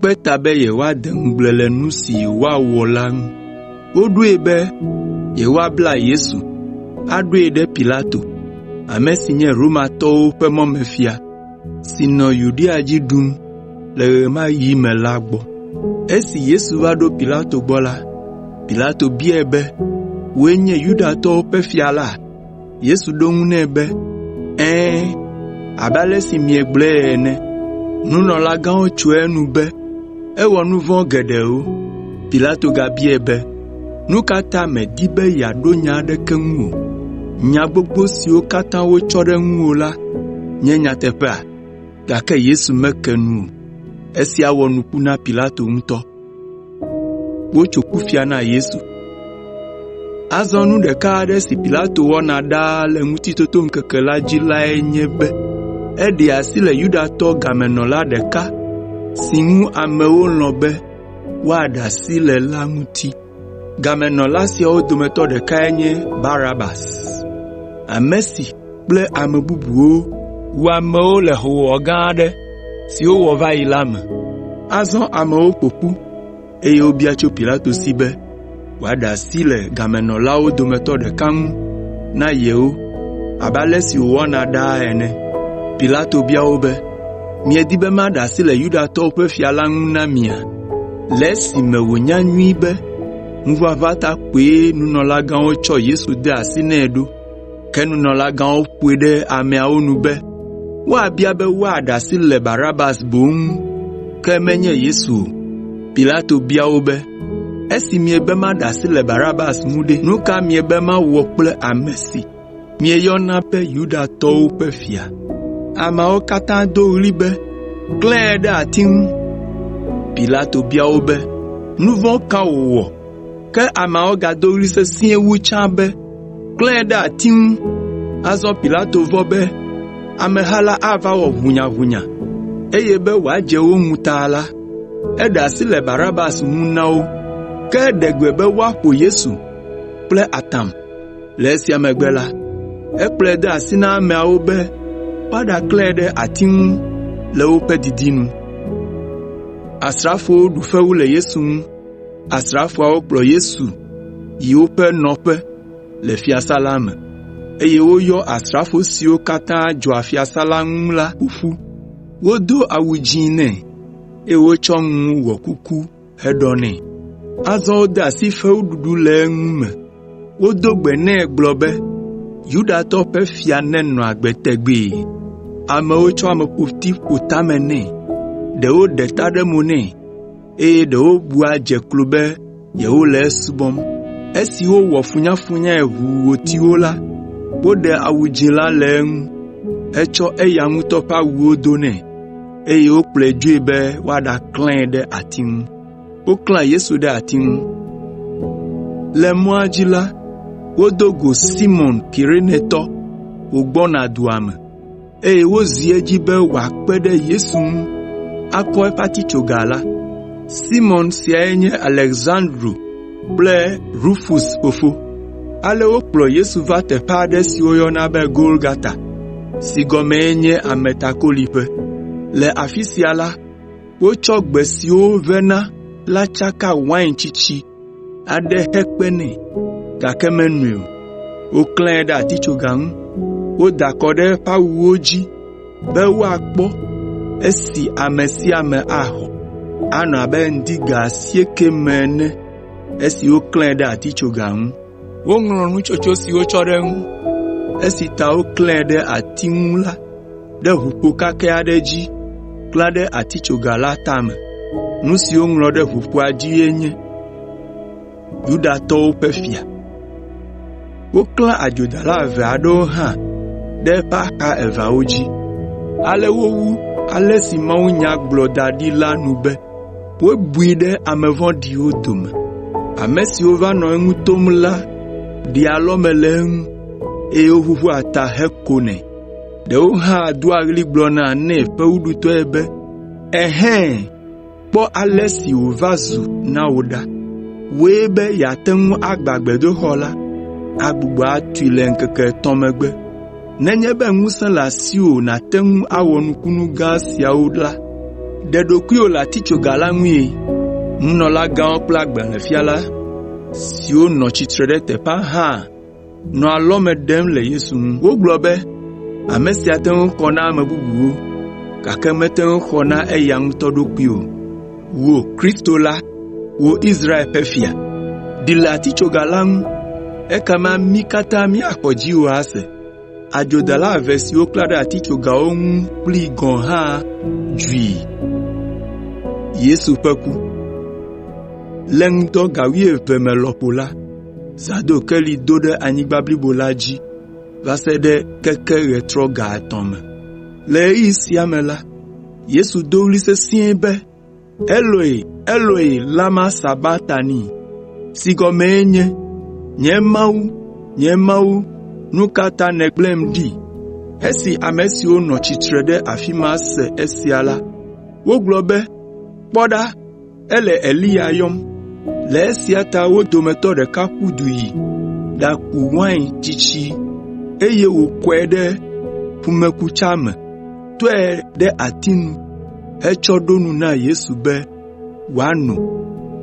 kpe ta be yewoade ŋugble le nu si woawɔ la ŋu. Woɖoe be yewoabla Yesu aɖoe ɖe Pilato, ame si nye Romatɔwo ƒe mɔmefia, si nɔ Yudea dzi ɖum le ɣe ma ɣi me la gbɔ. Esi Yesu va ɖo Pilato gbɔ la, Pilato biae be, “Wòe nye Yudatɔwo ƒe fia la?” Yesu ɖo eŋu nɛ be, “Ɛ̃, abe ale si miegblɔe ene.” Nunɔlagãwo tso enu be ewɔ nu vɔ̃ geɖewo. Pilato gabiae be, “Nu ka ta mèdi be yeaɖo nya aɖeke ŋu o? Nya gbogbo siwo katã wotsɔ ɖe ŋuwò la nye nyateƒea?” Gake Yesu meke nu o. Esia wɔ nuku na Pilato ŋutɔ. Azɔ nu ɖeka aɖe si Pilato wɔna ɖaa le Ŋutitotoŋkeke la dzi lae nye be eɖe asi le Yudatɔ gamenɔla ɖeka si ŋu amewo lɔ̃ be woaɖe asi le la ŋuti. Gamenɔla siawo dometɔ ɖekae nye Barabas. kple ame bubuwo wu amewo le hoowɔwɔ gã aɖe si wowɔ va yi la me. Azɔ amewo ƒo ƒu, eye wobia tso Pilato si be wòaɖe asi le gamenɔlawo dometɔ ɖeka ŋu na yewo abe ale si wòwɔna ɖaa ene. Pilato bia wo be, “Miedi be maɖe asi le Yudatɔwo ƒe fia la ŋu na mia?” Le esime wònya nyuie be ŋuʋaʋã ta koe nunɔlagãwo tsɔ Yesu de asi nɛ ɖo. Ke nunɔlagãwo ƒoe ɖe ameawo nu be woabia be woaɖe asi le Barabas boŋ ŋu, ke menye Yesu o. Pilato bia wo be, “Esi miebe maɖe asi le Barabas ŋu ɖe, nu ka miebe mawɔ kple ame si mieyɔna be Yudatɔwo ƒe Fia?” Ameawo katã do ɣli be, “Klãe ɖe ati ŋu!” Pilato bia wo be, “Nu vɔ̃ ka wòwɔ?” Ke ameawo gado ɣli sesĩe wu tsã be, “Klãe ɖe ati ŋu!” Azɔ Pilato vɔ̃ be ameha la ava wɔ ʋunyaʋunya, eye be wòadze wo ŋu ta la, eɖe asi le Barabas ŋu na wo, ke eɖe gbe be woaƒo Yesu kple atam. Le esia megbe la, ekplɔe de asi na ameawo be woaɖaklãe ɖe ati ŋu le woƒe didinu. Asrafoawo kplɔ Yesu yi woƒe nɔƒe le fiasã la me, eye woyɔ asrafo siwo katã dzɔa fiasã la ŋu la ƒo ƒu. Wodo awu dzĩ nɛ, eye wotsɔ ŋu wɔ kuku heɖɔ nɛ. Azɔ wode asi fewuɖuɖu le eŋu me. Wodo gbe nɛ gblɔ be, “Yudatɔwo ƒe fia nenɔ agbe tegbee!” Amewo tsɔ ameƒoti ƒo tame nɛ, ɖewo ɖe ta ɖe mo nɛ. eye ɖewo bua dze klo be yewole esubɔm. Esi wowɔ funyafunyae ʋu wòti wo la, woɖe awu dzĩ la le eŋu hetsɔ eya ŋutɔ ƒe awuwo do nɛ, eye wokplɔe dzoe be woaɖaklãe ɖe ati ŋu. Woklã Yesu ɖe ati ŋu. Le mɔa dzi la, wodo go Simɔn Kirenetɔ wògbɔna dua me. eye wozi edzi be wòakpe ɖe Yesu ŋu akɔ eƒe atitsoga la. Simɔn siae nye Aleksandro kple Rufus fofo. Ale wokplɔ Yesu va teƒe aɖe si woyɔna be Golgata (si gɔmee nye “Ametakoliƒe”). Le afi sia la, wotsɔ gbe siwo wovena la tsaka wain tsitsi aɖe hekpe nɛ, gake menoe o. Woklãe ɖe atitsoga ŋu, woda akɔ ɖe eƒe awuwo dzi be woakpɔ esi ame sia ame axɔ. Anɔ abe ŋdi ga asiekɛ me ene esi woklãe ɖe atitsoga ŋu. Woŋlɔ nutsotso si wotsɔ ɖe eŋu, esi ta woklãe ɖe ati ŋu la ɖe ʋukpo kakɛ aɖe dzi klã ɖe atitsoga la tame. Nu si woŋlɔ ɖe ʋukpoa dzie nye, Yudatɔwo ƒe Fia. Woklã adzodala eve aɖewo hã ɖe eƒe axa eveawo dzi. Ale wowu ale si mawunya gblɔ da ɖi la nu be, Wobui ɖe ame vɔ̃ɖiwo dome. Ame siwo va nɔ eŋu tom la ɖea alɔme le eŋu, eye woʋuʋua ta hekonɛ. Ɖewo hã doa ɣli gblɔna nɛ fewuɖutɔe be, “Ehɛ̃, kpɔ ale si wòva zu na wò ɖa! Wòe be yeate ŋu agbã gbedoxɔ la, agbugbɔ atui le ŋkeke etɔ̃ megbe.” Nenye be ŋusẽ le asiwò nàte ŋu awɔ nukunu gã siawo la, ɖe ɖokuiwò le atitsoga la ŋue.” Nunɔlagãwo kple agbalẽfiala siwo nɔ tsitre ɖe teƒea hã nɔ alɔme ɖem le Yesu ŋu. Wogblɔ be, “Ame sia te ŋu xɔ na ame bubuwo, gake mete ŋu xɔ na eya ŋutɔ ɖokui o.” “Wò Kristo la, wò Israel ƒe Fia, ɖi le atitsoga la ŋu, ekema mí katã míaxɔ dziwò ase.” Adzodala eve siwo woklã ɖe atitsogawo ŋu kplii gɔ̃ hã dzui. Le ŋdɔ ga wuieve me lɔƒo la, zã do keli do ɖe anyigba blibo la dzi va se ɖe keke ɣetrɔ ga etɔ̃ me. Le ɣeyiɣi sia me la, Yesu do ɣli sesĩe be, “Eloi, Eloi, lama sabaktani?” (si gɔmee nye, “Nye Mawu, nye Mawu, nu ka ta nègblẽm ɖi?”). Esi ame siwo nɔ tsitre ɖe afi ma se esia la, wogblɔ be, “Kpɔ ɖa!” ele Eliya yɔm. Le esia ta wo dometɔ ɖeka ƒu du yi ɖaku wain tsitsi, eye wòkɔe ɖe ƒumekutsa me, tɔe ɖe ati nu hetsɔ ɖo nu na Yesu be wòano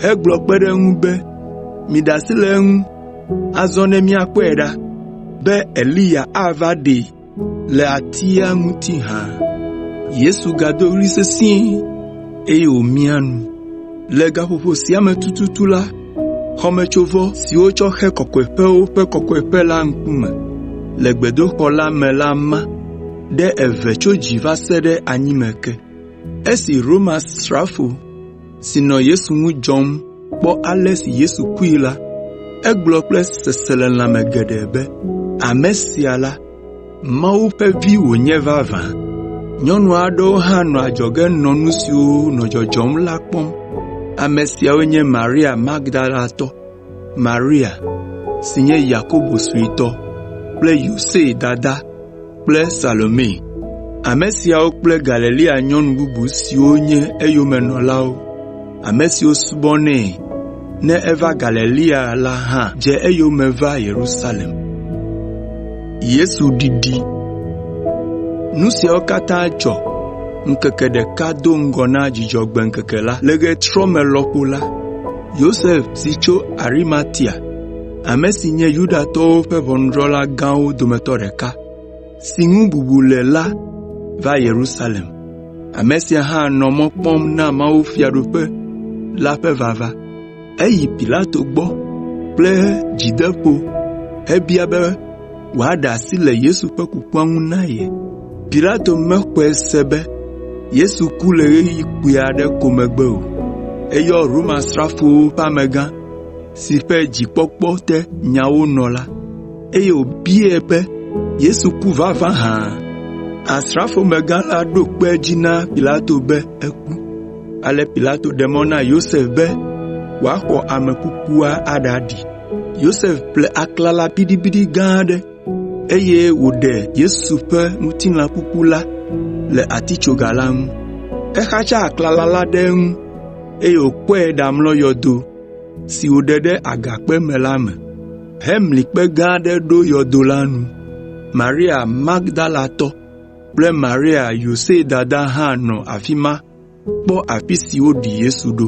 hegblɔ kpe ɖe eŋu be, “Miɖe asi le eŋu azɔ ne míakpɔe ɖa be Eliya ava ɖee.” Le atia ŋuti hã, Yesu gado ɣli sesĩe, eye wòmia nu. Le gaƒoƒo sia me tututu la, xɔmetsovɔ si wotsɔ xe Kɔkɔeƒewo Ƒe Kɔkɔeƒe la ŋkume le gbedoxɔ la me la ma ɖe eve tso dzi va se ɖe anyime ke. si nɔ Yesu ŋu dzɔm kpɔ ale si Yesu kue la, egblɔ kple seselelãme geɖe be, “Ame sia la, Mawu ƒe Vi wònye vavã!” Nyɔnu aɖewo hã nɔ adzɔge nɔ nu siwo nɔ dzɔdzɔm la kpɔm. Ame siawoe nye Maria Magdalatɔ, Maria si nye Yakobo suetɔ kple Yose dada kple Salome. Ame siawo kple Galilea nyɔnu bubu siwo nye eyomenɔlawo, ame siwo subɔnɛ ne eva Galilea la hã dze eyome va Yerusalem. Nu siawo katã dzɔ ŋkeke ɖeka do ŋgɔ na Dzudzɔgbe ŋkeke la. Le ɣetrɔme lɔƒo la, Yosef si tso Arimatia, ame si nye Yudatɔwo ƒe ʋɔnudrɔ̃la gãwo dometɔ ɖeka, si ŋu bubu le la va Yerusalem. Ame sia hã nɔ mɔ kpɔm na mawufiaɖuƒe la ƒe vava. Eyi Pilato gbɔ kple dzideƒo hebia be, wòaɖe asi le Yesu ƒe kukua ŋu na ye. Pilato mexɔe se be Yesu ku le ɣeyiɣi kpui aɖe ko megbe o. Eyɔ Romasrafowo ƒe amegã si ƒe dzikpɔkpɔ te nyawo nɔ la, eye wòbiae be, “Yesu ku vavã hã?” Asrafomegã la ɖo kpe edzi na Pilato be eku. Ale Pilato ɖe mɔ na Yosef be wòaxɔ ame kukua aɖaɖi. Yosef ƒle aklala biɖibiɖi gã aɖe, eye wòɖe Yesu ƒe ŋutilã kuku la le atitsoga la ŋu. Exatsa aklala la ɖe eŋu, eye wòkɔe ɖamlɔ yɔdo si wòɖe ɖe agakpe me la me hemli kpe gã aɖe ɖo yɔdo la nu. Maria Magdalatɔ kple Maria Yose dada hã nɔ afi ma. Kpɔ afi si woɖi Yesu ɖo.